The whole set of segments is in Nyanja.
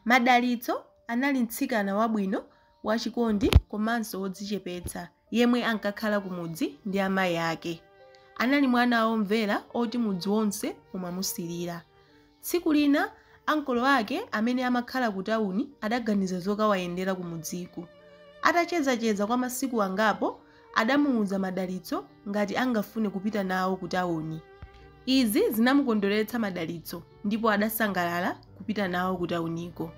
Madalitso anali mtsikana wabwino, wachikondi komanso wodzichepetsa yemwe ankakhala kumudzi ndi amayi ake. Anali mwana womvera oti mudzi wonse umamusirira. Tsiku lina ankolo ake amene amakhala kutawuni adaganiza zokawayendera kumudziku. Atachezacheza kwa masiku angapo adamuuza Madalitso ngati angafune kupita nawo ku tauni. Izi zinamukondweretsa Madalitso ndipo adasangalala kupita nawo ku tauniko.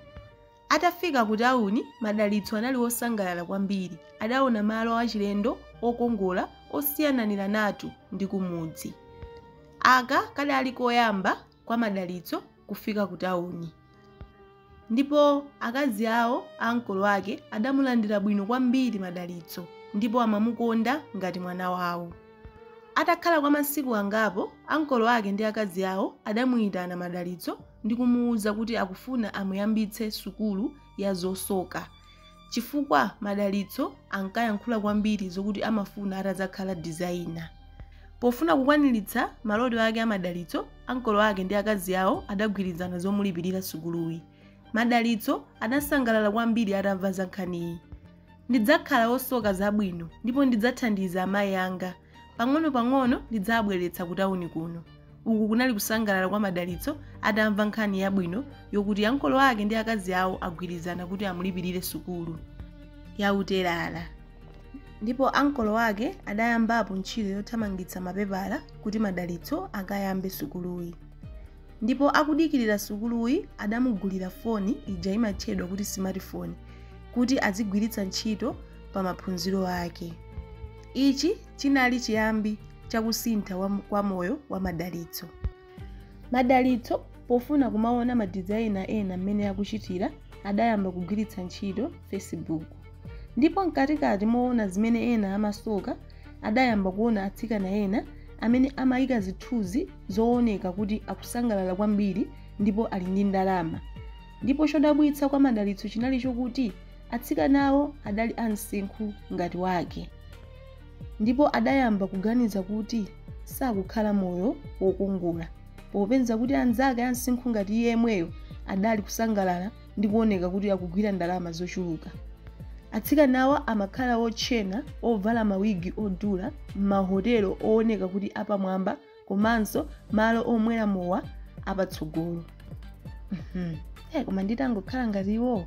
Atafika ku tauni, Madalitso anali wosangalala kwambiri. Adaona malo achilendo okongola osiyananiranatu ndi kumudzi. Aka kadali koyamba kwa madalitso kufika kutauni. Ndipo akazi awo a ankolo ake adamulandira bwino kwambiri madalitso ndipo amamukonda ngati mwana wawo. Atakhala kwa masiku angapo, ankolo ake ndi akazi awo adamuyitana madalitso ndi kumuwuza kuti akufuna amuyambitse sukulu ya zosoka. chifukwa madalitso ankayankhula kwambiri zokuti amafuna atadzakhala designer pofuna kukwaniritsa maloto ake a madalitso ankolo ake ndi akazi awo adagwirizana zomulipirira sukuluyi madalitso adasangalala kwambiri atamva za nkhaniyi ndidzakhala wosoka zabwino ndipo ndidzathandiza amayi anga Pang'onopang'ono ndidzawabweretsa kutauni kuno. Uku kunali kusangalala kwa Madalitso atamva nkhani yabwino yokuti ankolo ake ndi akazi awo agwirizana kuti amulipirire sukulu ya utelala. Ndipo ankolo ake adayambapo ntchito yothamangitsa mapepala kuti Madalitso akayambe sukuluyi. Ndipo akudikirira sukuluyi adamugulira foni ija imatchedwa kuti smartphone kuti azigwiritsa ntchito pamaphunziro ake. Ichi chinali chiyambi cha kusintha kwa moyo wa madalitso. Madalitso pofuna kumaona madizaina ena mmene akuchitira adayamba kugwiritsa ntchito Facebook. Ndipo mkatikati moona zimene ena amasoka adayamba kuona atsikana ena amene amayika zithunzi zooneka kuti akusangalala kwambiri ndipo ali ndi ndalama. Ndipo chodabwitsa kwa madalitso chinali chokuti Atsikanawo adali a msinkhu ngati wake ndipo adayamba kuganiza kuti sakukhala moyo wokongola popeza kuti anzake a msinkhu ngati iye yemweyo adali kusangalala ndi kuoneka kuti akugwira ndalama zochuluka. Atsikanawo amakhala otchena, ovala mawigi odula, m'mahotelo ooneka kuti apamwamba komanso malo omwera mowa apatsogolo koma nditangokhala ngati iwowo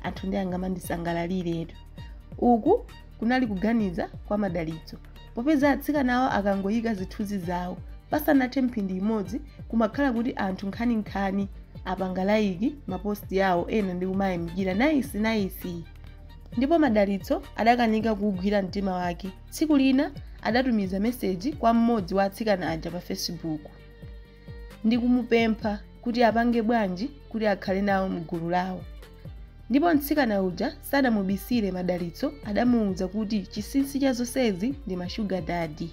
anthu ndiye angamandisangalaliretu uku kunali kuganiza kwa madalitso popeza atsikanawo akangoyika zithunzi zawo pasanathe mphindi imodzi kumakhala kuti anthu nkhaninkhani apanga laiki maposti yawo ena ndi kumayamikira naisi naisi ndipo madalitso adakanika kuwugwira mtima wake tsiku lina adatumiza meseji kwa mmodzi wa atsikana aja pa facebook ndi kumupempha kuti apange bwanji kuti akhale nawo mgulu lawo ndipo mtsikana uja sadamubisire madalitso adamuwuza kuti chinsinsi cha zonsezi ndi mashuga dadi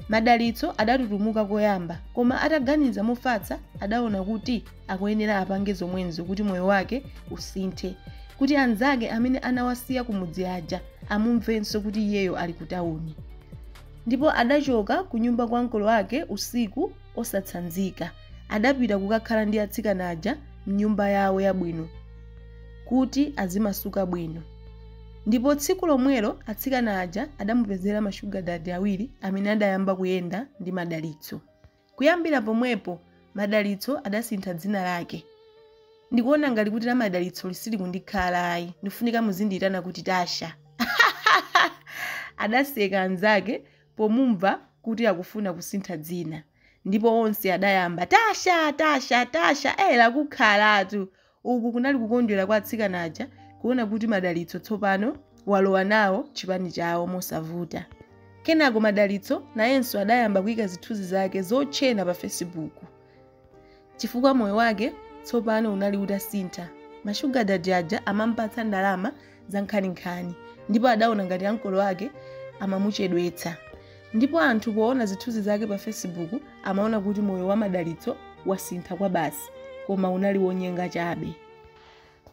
madalitso adatutumuka koyamba koma ataganiza mofatsa adaona kuti akuyenera apange zomwezo kuti moyo wake usinthe kuti anzake amene anawasiya kumudzi aja amumvenso kuti iyeyo ali ku tawuni ndipo adachoka ku nyumba kwa ankolo ake usiku osatsanzika adapita kukakhala ndi atsikana aja mnyumba yawo yabwino kuti azimasuka bwino ndipo tsiku lomwelo atsikana aja adamupezera mashuga dadi awiri amene adayamba kuyenda ndi madalitso Kuyambira pomwepo, Madalitso adasintha dzina lake. Ndikuona ngati kuti la Madalitsoli silikundikhala ayi. Ndikufunika muzindiitana kuti Tasha. Adaseka anzake pomumva kuti akufuna kusintha dzina. Ndipo onse adayamba, Tasha! Tasha! Tasha! Ee, lakukhalatu! Uku kunali kukondwera kwa atsikana aja kuona kuti Madalitso tsopano walowa nawo chipani chawo mosavuta. Kenako Madalitso nayenso adayamba kuika zithunzi zake zotchena pa fesibuku chifukwa moyo wake tsopano unali utasintha. Mashuga dadi aja amamupatsa ndalama zankhaninkhani ndipo adaona ngati ankolo ake amamuchedwetsa ndipo anthu poona zithunzi zake pa facebook amaona kuti moyo wa madalitso wasintha kwabasi koma unali wonyenga chabe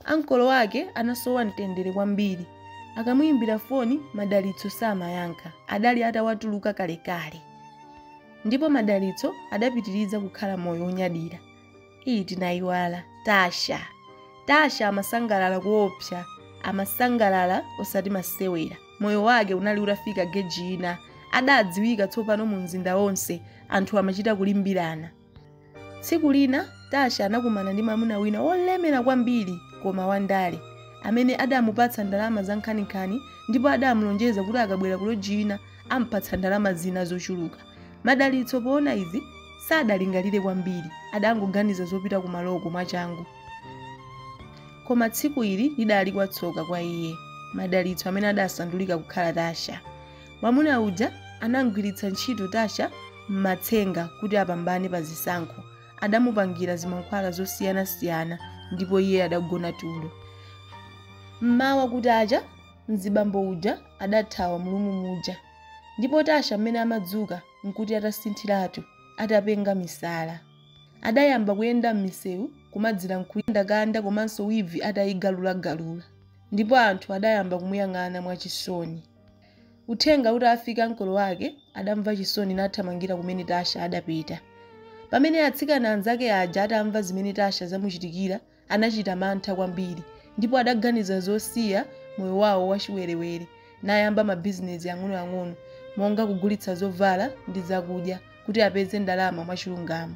ankolo ake anasowa mtendere kwambiri akamuyimbira foni madalitso samayankha adali atawatuluka kalekale ndipo madalitso adapitiriza kukhala moyo wonyadira ii tinayiwala tasha tasha amasangalala kuopsa amasangalala osati masewera moyo wake unali utafika geji ina adadziwika tsopano mu mzinda wonse anthu amachita kulimbirana tsiku lina tasha anakumana ndi mwamuna wina wolemera kwambiri koma wandale amene adamupatsa ndalama zankhaninkhani ndipo adamulonjeza kuti akabwera kuloji ina ampatsa ndalama zina zochuluka madalitso poona izi sadalingalire kwambiri adangoganiza zopita kumaloko mwachangu koma tsiku ili lidali latsoka kwa iye madalitso amene adasandulika kukhala tasha mwamuna uja anamgwiritsa ntchito tasha m'matsenga kuti apambane pa zisankho adamupangira zimankhwala zosiyanasiyana ndipo iye adagona tulo mmawa kutacha mzibambo uja adathawa mu lumu muja ndipo tasha mmene amadzuka nkuti atasinthiratu atapenga misala adayamba kuyenda mmisewu kumadzikandakanda komanso wivi atayigalulagalula ndipo anthu adayamba kumuyang'ana mwachisoni uthenga utafika kwa ankolo wake adamva chisoni nathamangira kumene tasha adapita pamene atsikana anzake aja atamva zimene tasha zamuchitikira anachita mantha kwambiri ndipo adaganiza zosiya moyo wawo wachiwerewere nayamba mabizinesi ang'onoang'ono monga kugulitsa zovala ndi zakudya kuti apeze ndalama mwachilungamo.